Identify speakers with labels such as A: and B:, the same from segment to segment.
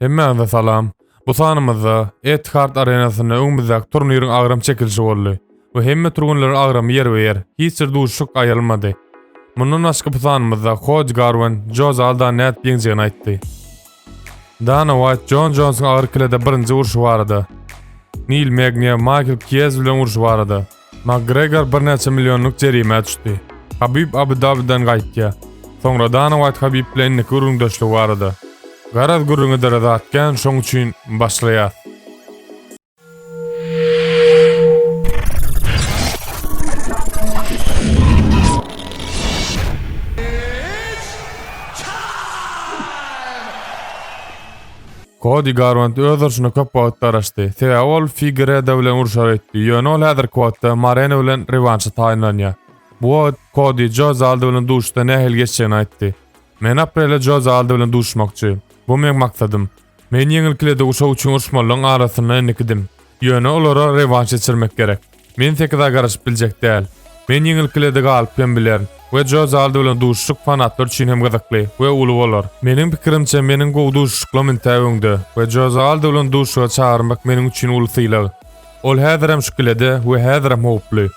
A: Hemmäňize salam. Bu sanymyzda Etihad Arenasynda öňümizdäki turniriň agram çekilişi boldy we hemme türgenleriň agramy ýerbe-ýer, hiç bir duşuşyk aýrylmady. Mundan başga bu sanymyzda Kod Garwen Joe Zalda nädip ýeňjegini aýtdy. Dana Waýt Jon Jonsyň agyr kilede birinji urşy barada. Nil Megniýa Maýkl Kiýez bilen urşy barada. Makgregor birnäçe millionlyk jerimä düşdi. Habib Abu-Dabiden gaýtýar. Soňra Dana Waýt Habib bilen indiki gürrüňdeşligi barada. Garaz gürrüňe dara zat kän şoň üçin başlaýas. Kodi Garwant öz urşuna köp wagt garaşdy, sebäbi ol Figereda bilen urşar öýtdi, ýöne ol häzirki wagtda Mareno bilen rewanşa taýynlanýar. Bu wagt Kodi Joze Aldo bilen duşuşda nähili geçjegini aýtdy. Men aprelde Joze Aldo bilen duşuşmakçy. Bu meň maksadym. Men ýeňil kilede guşak üçin urşmalylaryň arasynda indikidim. Ýöne olara rewanş geçirmek gerek. Men sekiza garaşyp biljek däl. Men ýeňilkilerde galyp hem bilerin. We Joe Zaldo bilen duşuşyk fanatlar üçin hem gyzykly we uly bolar. Meniň pikirimçe meniň gowy duşuşyklam intä öňde we Joe Zaldo bilen duşuşyga çagyrmak meniň üçin uly sylag. Ol häzirem şu kilede we häzirem howply.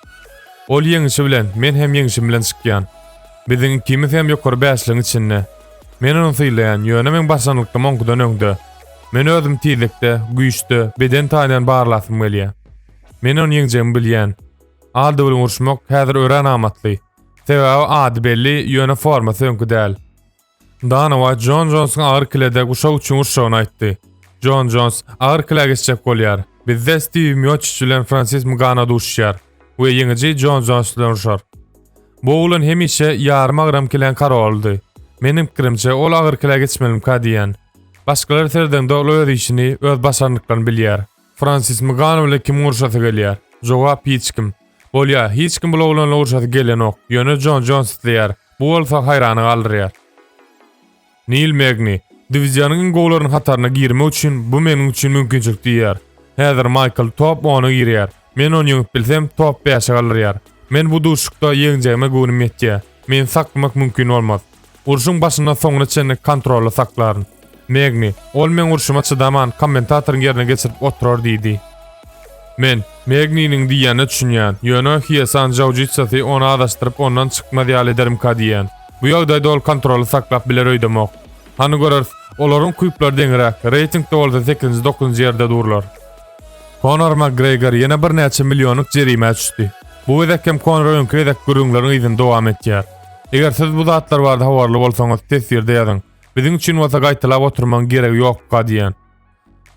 A: Ol ýeňişi bilen, men hem ýeňişim bilen çykýan. Biziň ikimiz hem ýokary bäşligiň içinde. Men ony sylaýan, ýöne meň başlangyklym oňkudan öňde. Men özümi tizlikde, güýçde, beden taýyndan barlasym gelýär. Men ony ýeňjegimi bilýän. Aldo bilen uruşmak häzir örän amatly. Sebäbi ady belli, ýöne formasy öňki däl. Dana Waýt Jon Jonsuň agyr kilede guşak üçin urşagyny aýtdy. Jon Jons agyr kile geçjek bolýar. Bizde Stiw Mioçiç bilen Fransis Mgano duşuşýar we ýeňiji Jon Jons bilen urşar. Bu oglan hemişe ýarym agram kiläň karolydy. Meniň pikirimçe, ol agyr kile geçmelimka diýýän. Başgalar serdeňde ol öz işini, öz başarnyklaryny bilýär. Fransis Mgano bilen kim urşasy gelýär? Jogap hiç kim. Bolýar, hiç kim bul oglanla urşasy gelenok, ýöne Jon Jons isleýär, bu bolsa haýrana galdyrýar. Nil Megni, Diwizýonyň iň gowularynyň hataryna girmek üçin bu meniň üçin mümkinçilik diýýär. Häzir Maýkl top ona girýär. Men ony ýeňip bilsem, top bäşe galdyrýar. Men bu duşuşykda ýeňjegime göwnüm ýetýär. Meni saklamak mümkin bolmaz. Urşuň başyndan soňuna çenli kontrolda saklaryn. Megni, ol meň urşuma çydaman, kommentatoryň ýerine geçirip oturar diýdi. Men, Megniniň diýýänine düşünýän, ýöne Hiesan Jaujitsasy ony azaşdyryp ondan çykmaz ýaly ederimka diýýän. Bu ýagdaýda ol kontroly saklap biler öýdemok. Hany göreris, olaryň küplary deňiräk, reýtingde bolsa sekizinji, dokuzynjy ýerde durlar. Konor Makgregor ýene birnäçe millionlyk jerimä düşdi. Bu gezek hem Konor öňki gezek gürrüňleriň yzyny dowam etýär. Eger siz bu zatlar barada habarly bolsaňyz teswirde ýazyň. Biziň üçin bolsa gaýtalap oturmaň geregi ýokka diýen.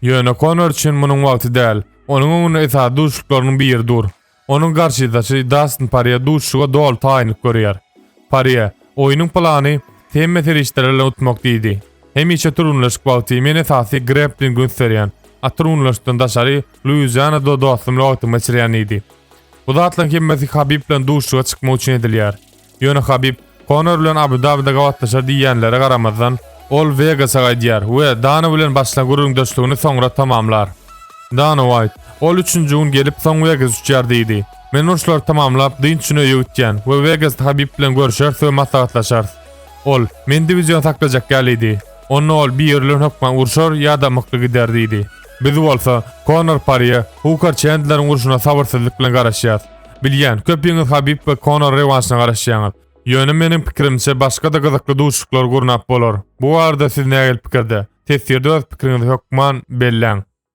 A: Ýöne Konor üçin munuň wagty däl. Onuň öňünde esasy duşuşyklarynyň biri dur. Onuň garşydaşy Dastin Parýe duşuşyga doly taýynlyk görýär. Parýe, Oýnuň plany hemme serişdeler bilen utmak diýdi. Hemişe türgenleşik wagty men esasy greplingi üns berýän. Atyrgunlaşykdan daşary Luizianada dostum bilen wagtymy geçirýän diýdi. Bu zatlaryň hemmesi Habib bilen duşuşyga çykmak üçin edilýär. Ýöne Habib Konor bilen Abu-Dabide gabatlaşar diýýänlere garamazdan, ol Wegasa gaýdýar we Dana bilen başlan gürrüňdeşligini soňra tamamlar. Dana Uaýt, Ol üçünji gün gelip, soň Wegas uçýar diýdi. Men urşlary tamamlap, dynç üçin öýe gitýän we Wegasda Habib bilen görşeris we maslahatlaşarys. Ol, Men diwizion saklajak ýalydy. Onda ol biri bilen hökman urşar ýa-da mykly gider diýdi. Biz bolsa, Konor Parýe, Hukar Çendleriň urşuna sabyrsyzlyk bilen garaşýarys. Bilýän, köpiňiz Habib we Konor rewanşyna garaşýaňyz. Ýöne meniň pikirimçe başga-da gyzykly duşuşyklar gurnap bolar. Bu barada siz nähili pikirde? Teswirde öz pikiriňizi hökman belläň.